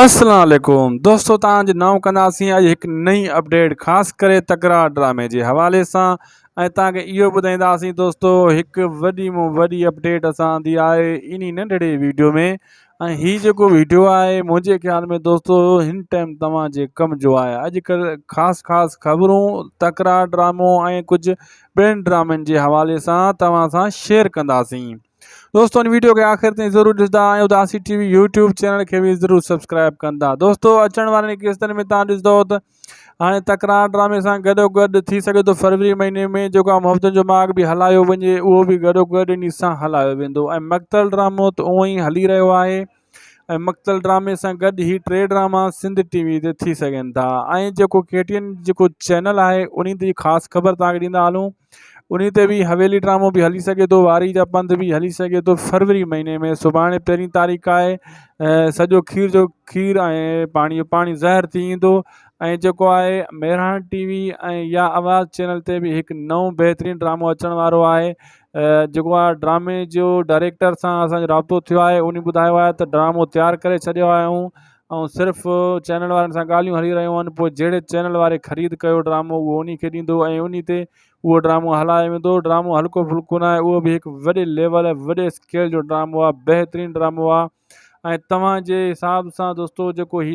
اسلام عليڪم دوستو توهان جو نئون ڪنداسين اڄ هڪ نئين اپڊيٽ خاص ڪري تڪرار ڊرامي جي حوالي سان ۽ توهان کي اهو ٻڌائينداسين دوستو هڪ وڏي مون وڏي اپڊيٽ اسان اندي آهي انهي ننڍڙي ويڊيو ۾ ۽ هي جيڪو ويڊيو آهي منهنجي خيال ۾ دوستو هن ٽائم توهان جي ڪم جو آهي اڄڪلهه خاص خاص خبرون تڪرار ڊرامو ۽ ڪجهه ٻين ڊرامن جي حوالي سان توهان سان شيئر ڪنداسين دوستو ان ويڊيو کي آخر تائين ضرور ڏسندا ۽ اداسي ٽي وي يوٽيوب چينل کي به ضرور سبسڪرائب ڪندا دوستو اچڻ وارن قسطن ۾ تان ڏسندو ته هاڻي تڪرار ڊرامي سان گڏو گڏ ٿي سگهي ٿو فروری مهيني ۾ جيڪو محبتن جو ماڳ به هلايو وڃي اهو به گڏو گڏ ان سان هلايو ويندو ۽ مقتل ڊرامو ته اونئي هلي رهيو آهي ۽ مقتل ڊرامي سان گڏ هي ٽي ڊراما سنڌ ٽي وي تي ٿي سگهن ٿا ۽ جيڪو ڪي ٽي اين جيڪو چينل آهي انهي تي خاص خبر تان کي ڏيندا هلون انهي تي به حويلي ڊرامو به هلي سگهي ٿو واري جا پنڌ به هلي سگهي ٿو فروري مهيني ۾ سڀاڻي پهرين تاريخ آهي ۽ سڄو کير جو کير ۽ پاڻي جو پاڻي زهر ٿي ايندو ۽ جيڪو آهي مهراڻ ٽي وي ۽ يا آواز چينل تي به هڪ نئون بهترين ڊرامو اچڻ وارو آهي جيڪو آ ڊرامي جو ڊائريڪٽر سان اسانجو رابطو ٿيو آهي اني ٻڌايو آهي ته ڊرامو تيار ڪري ڇڏيو آهي ائون ۽ صرف چينل وارن سان ڳالهيون هلي رهيون آهن پوء جهڙي چينل واري خريد ڪيو ڊرامو اهو اني کي ڏيندو ۽ اني تي اهو ڊرامو هلايو ويندو ڊرامو هلڪو ڦلڪو ناهي اهو به هڪ وڏي ليول وڏي اسڪيل جو ڊرامو آهي بهترين ڊرامو آهي ۽ توهان جي حساب سان دوستو جيڪو هي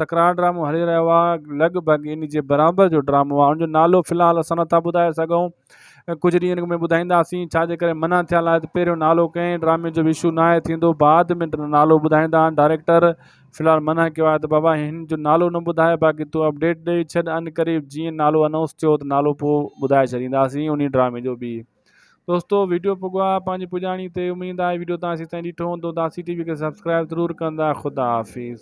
تڪرار ڊرامو هلي رهيو آهي لڳ ڀڳ ان جي برابر جو ڊرامو آهي ان جو نالو في الحال اسان نٿا ٻڌائي سگهون ڪجهه ڏينهن اڳ ۾ ٻڌائينداسين ڇا جي ڪري منع ٿيل آهي ته پهريون نالو ڪنهن ڊرامي جو وشو نه آهي ٿيندو بعد ۾ نالو ٻڌائيندا آهن ڊائريڪٽر في الحال منع ڪيو آهي ته بابا هن جو نالو نه ٻڌائي باقي تون اپڊيٽ ڏئي ڇڏ ان قريب جيئن نالو اناؤنس ٿيو ته نالو پوء ٻڌائي ڇڏينداسين ان ڊرامي جو به دوستو ويڊيو پڳا پنهنجي پڄاڻي تي اميد آهي ويڊيو تان سي تائين ڏٺو هوندو داسي ٽي وي کي سبسڪرائب ضرور ڪندا خدا حافظ.